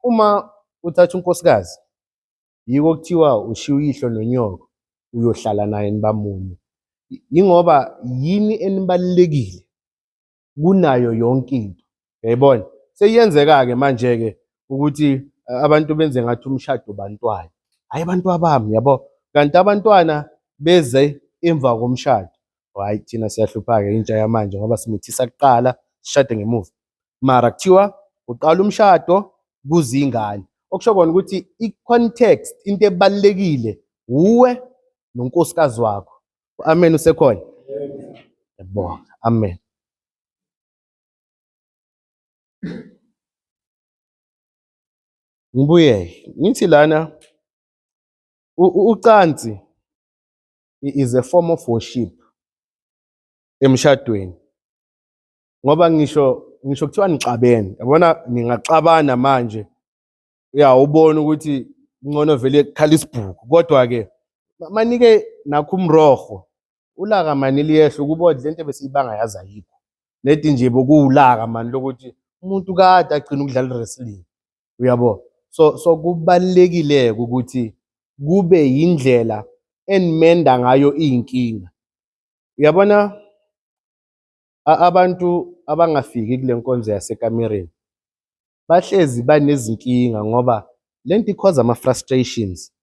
uma uthatha unkosikazi yiko kuthiwa ushiya uyihlo nonyoko uyohlala naye nibamunye yingoba yini enibalulekile kunayo yonke into yayibona seyenzeka-ke manje-ke ukuthi eh, abantu benze ngathi umshado bantwana hhayi abantu abami yabo kanti abantwana beze emva komshado Hayi thina siyahlupha-ke intsha yamanje ngoba simithisa kuqala sishade ngemuva. Mara kuthiwa uqala umshado kuze ingane. Okusho kona ukuthi i-context into ebalulekile wuwe nonkosikazi wakho. Amen usekhona. Yabonga. Amen. Ngibuye ngithi lana u- u- ucansi is a form of worship emshadweni ngoba ngisho ngisho kuthiwa nixabene yabona ningaxabana manje uyawubona ukuthi ngcono vele kukhala isibhuku kodwa ke manike nakho umroho ulaka mani liyehla ukubodla le nto ebesiyibanga yazi ayikho nedi nje bokuwulaka mani lokuthi umuntu kade agcina ukudlala i-wrestling uyabo so so kubalekile ukuthi kube yindlela enimenda ngayo izinkinga uyabona abantu abangafiki kule nkonzo yasekamereni bahlezi banezinkinga ngoba lento ikhoza ama frustrations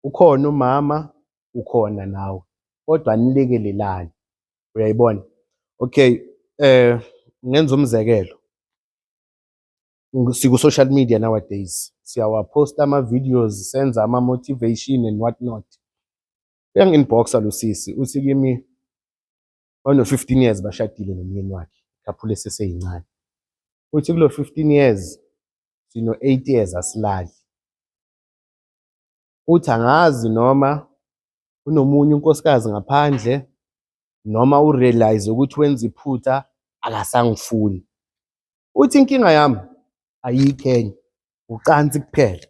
ukhona umama ukhona nawe kodwa nilekelelani uyayibona okay eh ngenza umzekelo siku-social media nowadays siyawaposta ama-videos senza ama-motivation and what not uyangi-inboxa lo sisi uthi kimi ono-fifteen years bashadile nomyeni wakhe khaphule seseyincane uthi kulo fifteen years sino-eight years asilali uthi angazi noma unomunye unkosikazi ngaphandle noma urealize ukuthi wenza iphutha akasangifuni uthi inkinga yami ayikho enye ucansi kuphela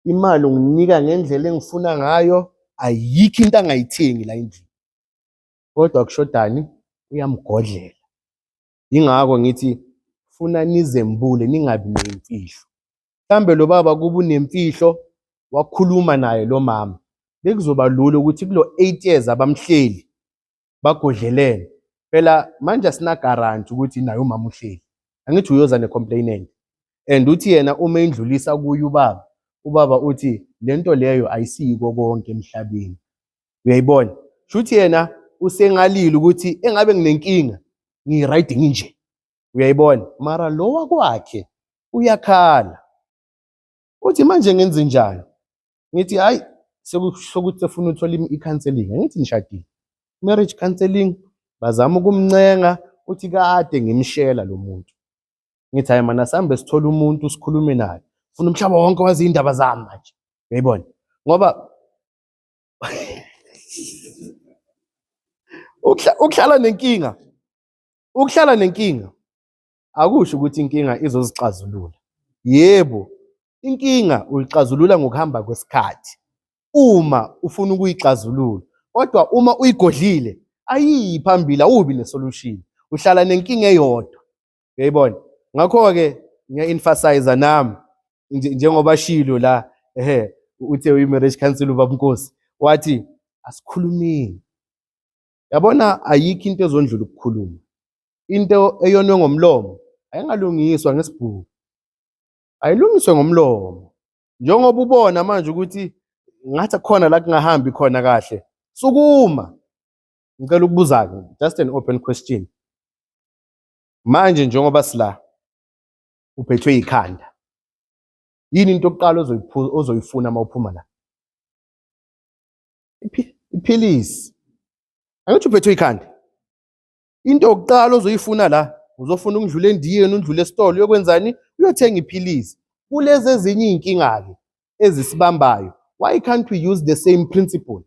imali unginika ngendlela engifuna ngayo ayikho into angayithengi la endlini kodwa kushodani uyamgodlela ingakho ngithi funa nizembule ningabi nemfihlo mhlambe lo baba kuba unemfihlo wakhuluma naye lo mama bekuzoba lula ukuthi kulo 8 years abamhleli bagodlelene phela manje asina guarantee ukuthi naye umama uhleli angithi uyoza ne complainant and uthi yena uma indlulisa kuye ubaba ubaba uthi lento leyo ayisiko konke emhlabeni uyayibona shuthi yena usengalile ukuthi engabe nginenkinga ngiyi-right nginje uyayibona mara lo wakwakhe uyakhala uthi manje ngenze njani ngithi hayi sekusho ukuthi sefuna uthola i-counseling angithi nishadile marriage counseling bazama ukumncenga uthi kade ngimshela lo muntu ngithi hayi mana sambe sithole umuntu sikhulume naye funa umhlaba wonke wazi indaba zami manje uyayibona ngoba ukuhlala nenkinga ukuhlala nenkinga akusho ukuthi inkinga izozixazulula yebo Inkinga uyixazulula ngokuhamba kwesikhathi uma ufuna ukuyixazulula, kodwa uma uyigodlile ayiyi phambili, awubi nesolution, uhlala nenkinga eyodwa. Uyayibona? Ngakho-ke ngiya-emphasize nami njengoba shilo la ehe uthe uyi-marriage council ubabunkosi wathi asikhulumeni yabona ayikho into ezondlula ukukhuluma into eyonwe ngomlomo ayingalungiswa ngesibhuku ayilungiswe ngomlomo njengoba ubona manje ukuthi ngathi khona la kungahambi khona kahle sukuma ngicela ukubuza-ke just an open question manje njengoba sila uphethwe yikhanda yini into yokuqala ozoyifuna uma uphuma la iphilisi angithi uphethwe yikhanda into yokuqala ozoyifuna la uzofuna ukudlula endiyeni undlule esitolo uyokwenzani uyothenga iphilisi kulezi ezinye iy'nkinga-ke ezisibambayo why can't we use the same principle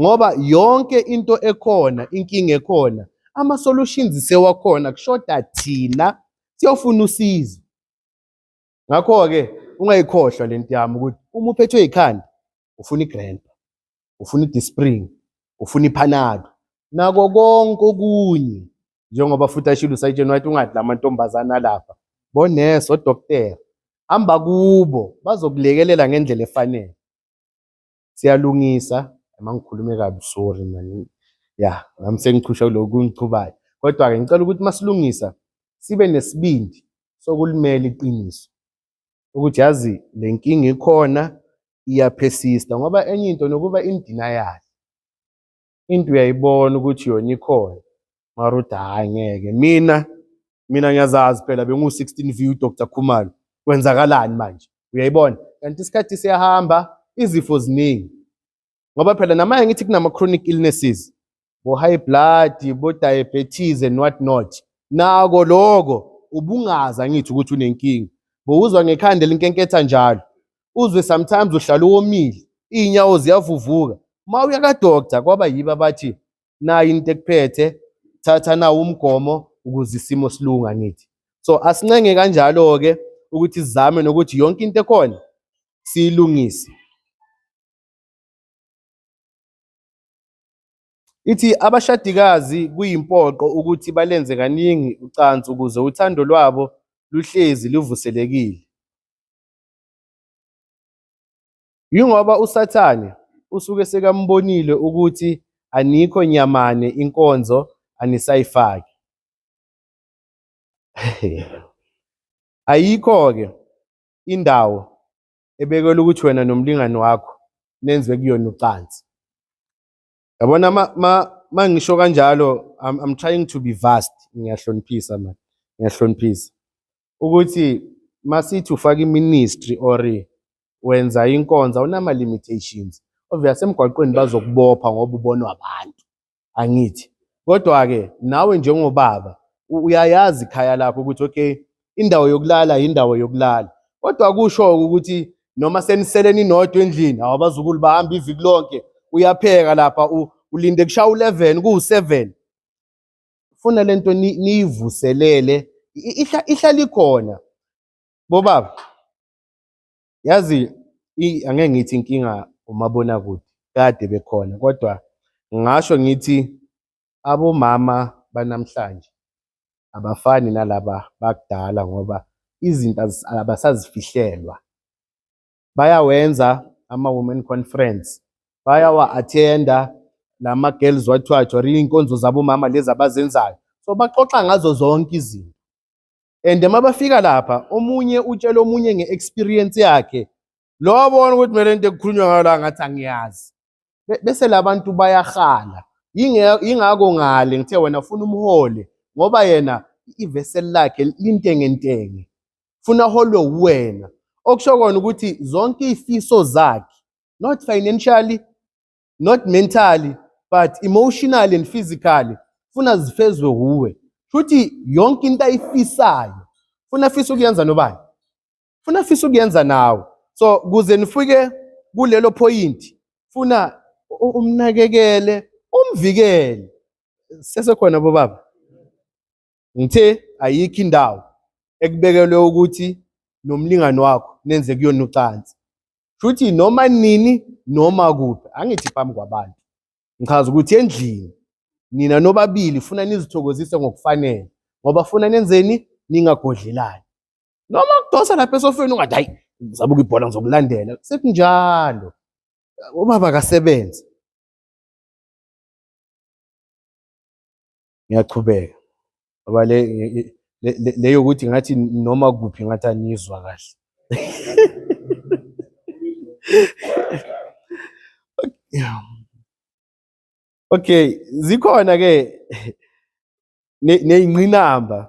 ngoba yonke into ekhona inkinga ekhona ama-solutions sewakhona kushoda thina siyofuna usizo ngakho-ke ungayikhohlwa le nto yami ukuthi uma uphethwe yikhanda ufuna igrandpa ufuna idispring ufuna iphanado nako konke okunye njengoba futhi ashilo usayitsheni wathi ungadla amantombazane alapha bonesi odoktera hamba kubo bazokulekelela ngendlela efanele siyalungisa uma ngikhulume kabi sorry mani ya nami sengichusha kulokhu kungichubayo kodwa-ke ngicela ukuthi masilungisa sibe nesibindi sokulimela iqiniso ukuthi yazi le nkinga ikhona iyaphesista ngoba enye into nokuba indina yakhe into uyayibona ukuthi yona ikhona mara uthi hhayi ngeke mina mina ngiyazazi phela bengu-16 view dr khumalo kwenzakalani manje uyayibona kanti isikhathi siyahamba izifo ziningi ngoba phela namanye ngithi kunama-chronic illnesses bo-high blood bo-diabetes and what not nako loko ubungaza ngithi ukuthi unenkinga bowuzwa ngekhanda elinkenketha njalo uzwe sometimes uhlala uwomile iy'nyawo ziyavuvuka uma uya kadoktar kwaba yibo abathi nayi into ekuphethe thatha nawo umgomo ukuze isimo silunga ngithi so asincenge kanjalo-ke ukuthi sizame nokuthi yonke into ekhona siyilungise Ithi abashadikazi kuyimpoqo ukuthi balenze kaningi ucansi ukuze uthando lwabo luhlezi luvuselekile. Yingoba uSathane usuke sekamubonile ukuthi anikho nyamane inkonzo anisayifaki. Ayikho-ke indawo ebekelwe ukuthi wena nomlingani wakho nenze kuyona ucansi yabona ma, ma, ma ngisho kanjalo I'm, I'm trying to be vast ngiyahloniphisa man ngiyahloniphisa ukuthi masithi ufaka iministry or wenza inkonza unama limitations obvious emgwaqweni bazokubopha ngoba ubonwa abantu angithi kodwa-ke nawe njengobaba uyayazi ikhaya lakho ukuthi okay indawo yokulala yindawo yokulala kodwa kusho ukuthi noma senisele ninodwa endlini awabazukulu bahamba iviki lonke uyapheka lapha ulinde kushaya u-11 kuwu-7 funa lento niyivuselele ihla ihlala ikhona bobaba Yazi angeke ngithi inkinga umabonakude kade bekhona kodwa ngasho ngithi abomama banamhlanje abafani nalaba bakudala ngoba izinto abasazifihlelwa. Bayawenza ama-women conference, bayawa-athenda lama girls wathiwa or iy'nkonzo zabomama lezi abazenzayo. So baxoxa ngazo zonke izinto. and uma bafika lapha omunye utshela omunye nge-experience yakhe lo abona ukuthi kumele into ekukhulunywa ngayo la ngathi angiyazi bese labantu bayahala yingako ngale ngithe wena ufuna umhole ngoba yena iveseli lakhe lintengentenge funa holwe uwena okusho kona ukuthi zonke izifiso zakhe not financially not mentally but emotionally and physically funa zifezwe wuwe futhi yonke into ayifisayo funa afisa ukuyenza nobani funa afisa ukuyenza nawe so kuze nifike kulelo point funa umnakekele umvikele sesekhona bobaba Ngithe ayikho indawo ekubekelwe ukuthi nomlingani wakho nenze kuyona ucansi. Shuthi noma nini noma kuphi, angithi phambi kwabantu. Ngichaza ukuthi endlini nina nobabili funa nizithokozise ngokufanele ngoba funa nenzeni ningagodlelani. Noma kudosa lapha esofeni ungathi hayi ngizabuka ibhola ngizokulandela. Sekunjalo. Ubaba akasebenzi. ngiyachubeka ngoba le leyo ukuthi ngathi noma kuphi ngathi anizwa kahle okay zikhona ke neyinqinamba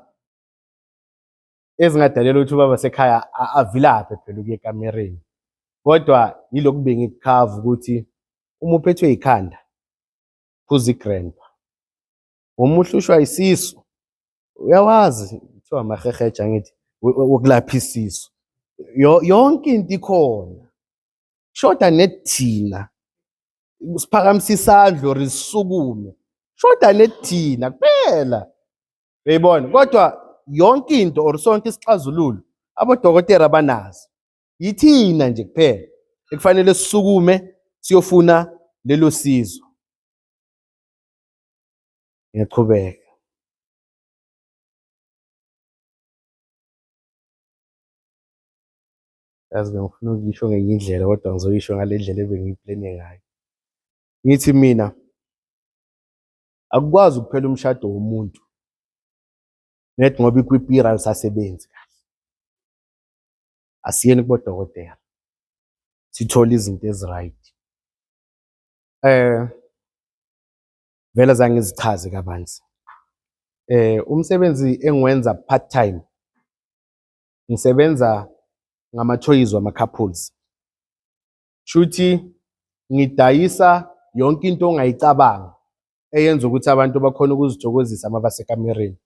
ezingadalela ukuthi ubaba sekhaya avilaphe phela ukuye ekamereni kodwa yilokhu bengikukhavu ukuthi uma uphethwe yikhanda phuza igrandpa uma uhlushwa isisu uyawazi kuthiwa amaheheja ngithi wokulapha isisu yonke into ikhona shoda nethina siphakamisa isandla or sisukume shoda nethina kuphela uyayibona kodwa yonke into or sonke isixazululo abodokotela banazo yithina nje kuphela ekufanele sisukume siyofuna lelo sizo ngiyaqhubeka yazi bengifuna ukuyisho ngenye indlela kodwa ngizoyisho ngale ndlela ebengiyiplene ngayo ngithi mina akukwazi ukuphela umshado womuntu net ngoba ikwipiral sasebenzi kahle asiyeni kubodokotela sithole izinto eziright eh vele zange zichaze kabanzi eh umsebenzi engiwenza part time ngisebenza ngama-toys wama-couples shuthi ngidayisa yonke into ongayicabanga eyenza ukuthi abantu bakhona ukuzithokozisa uma basekamereni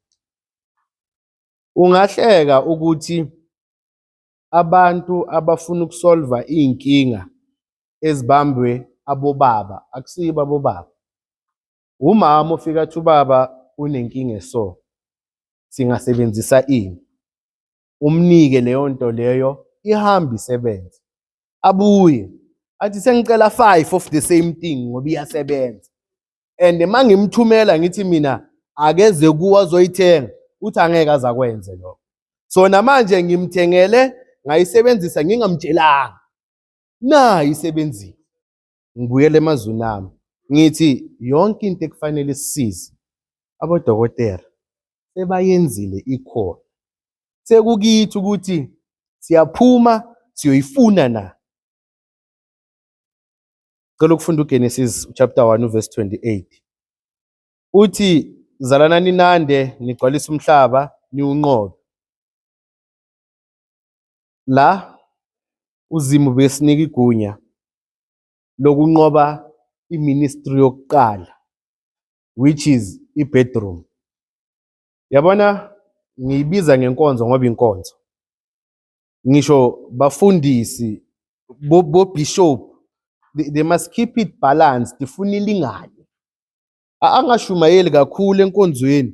Ungahleka ukuthi abantu abafuna ukusolva iy'nkinga ezibambwe abobaba akusibo abobaba. Umama ofike athi ubaba unenkinga eso, singasebenzisa ini? Umnike leyo nto leyo ihambe isebenze. Abuye athi sengicela five of the same thing ngoba iyasebenza. and uma ngimthumela ngithi mina akeze kuwe azoyithenga uthi angeke azakwenze lokho so namanje ngimthengele ngayisebenzisa ngingamtshelanga nayi isebenzile ngibuyele emazwini ami ngithi yonke into ekufanele isize abodokotela sebayenzile ikhona sekukithi ukuthi siyaphuma siyoyifuna na Cela ukufunda uGenesis chapter 1 verse 28. Uthi zalana ninande nigcwalisa umhlaba niwunqobe. La uzimu besinika igunya lokunqoba iministry yokuqala which is ibedroom. Yabona ngiyibiza ngenkonzo ngoba inkonzo. ngisho bafundisi bobishop they, they must keep it balanced ifuna ilingane angashumayeli kakhulu enkonzweni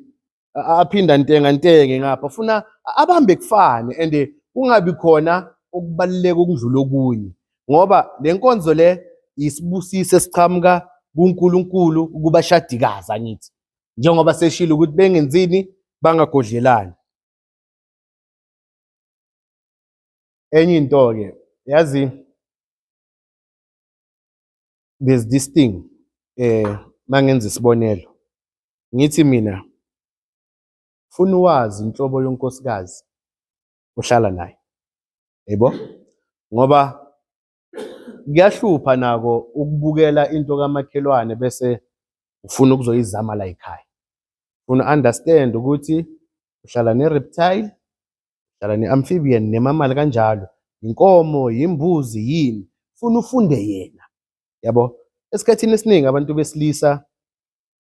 aphinda ntenga ntenge ngapha funa abambe kufane and eh, kungabi khona okubaluleka ukudlula okunye ngoba le nkonzo le yisibusiso esiqhamuka kuNkulunkulu kubashadikazi angithi njengoba seshilo ukuthi bengenzini bangagodlelani Enye into-ke yazi there's this thing eh mangenza isibonelo ngithi mina funa wazi inhlobo yonkosikazi ohlala naye yebo ngoba kuyahlupha nako ukubukela into kamakhelwane bese ufuna ukuzoyizama la ekhaya. Ufuna understand ukuthi uhlala ne-reptile, uhlala ne-amphibian nemamali kanjalo. Inkomo, yimbuzi, yini. Funa ufunde yena. Yabo? Esikhathini esiningi abantu besilisa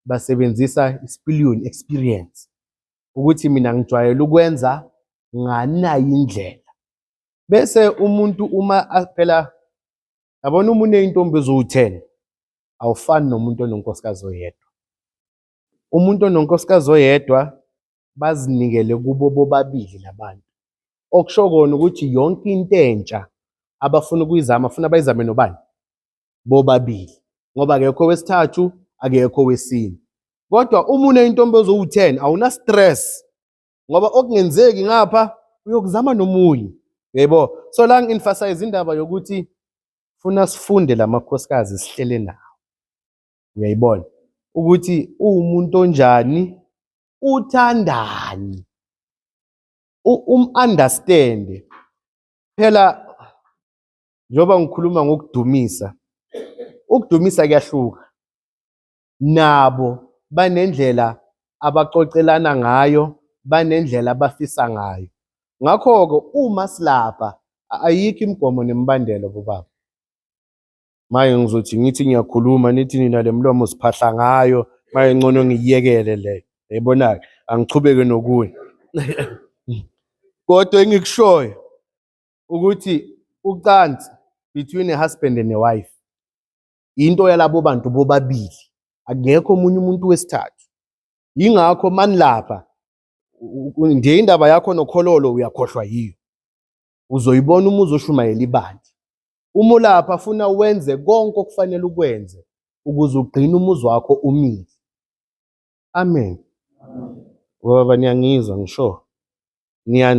basebenzisa i-spillion experience ukuthi mina ngijwayele ukwenza nganayi indlela. bese umuntu uma a- phela yabona uma uneyintombi eziwu-ten awufani nomuntu ononkosikazi oyedwa umuntu ononkosikazi oyedwa bazinikele kubo bobabili labantu okusho kona ukuthi yonke into entsha abafuna ukuyizama funa bayizame nobani bobabili ngoba akekho owesithathu akekho owesine kodwa uma uneyintombi eziwu-ten awuna-stress ngoba okungenzeki ngapha uyokuzama nomunye yebo so la ngi-emphasize indaba yokuthi funa sifunde la makhosikazi sihlele nawo uyayibona ukuthi uwumuntu onjani uthandani um-understande phela njengoba ngikhuluma ngokudumisa ukudumisa kuyahluka nabo banendlela abaxoxelana ngayo, banendlela abafisa ngayo. Ngakho-ke uma silapha ayikho imigomo nemibandela bobaba. Manje ngizothi ngithi ngiyakhuluma nithi nina le mlomo siphahla ngayo manje ngcono ngiyiyekele leyo. Yayibona-ke angichubeke nokunye. Kodwa engikushoyo ukuthi ucansi between a husband and a wife into yalabo bantu bobabili akekho omunye umuntu wesithathu yingakho manilapha nje indaba yakho nokhololo uyakhohlwa yiyo uzoyibona uma uzoshumayela ibandla uma ulapha funa wenze konke okufanele ukwenze ukuze ugcine umuzi wakho umile amen ngoba niyangizwa ngisho niya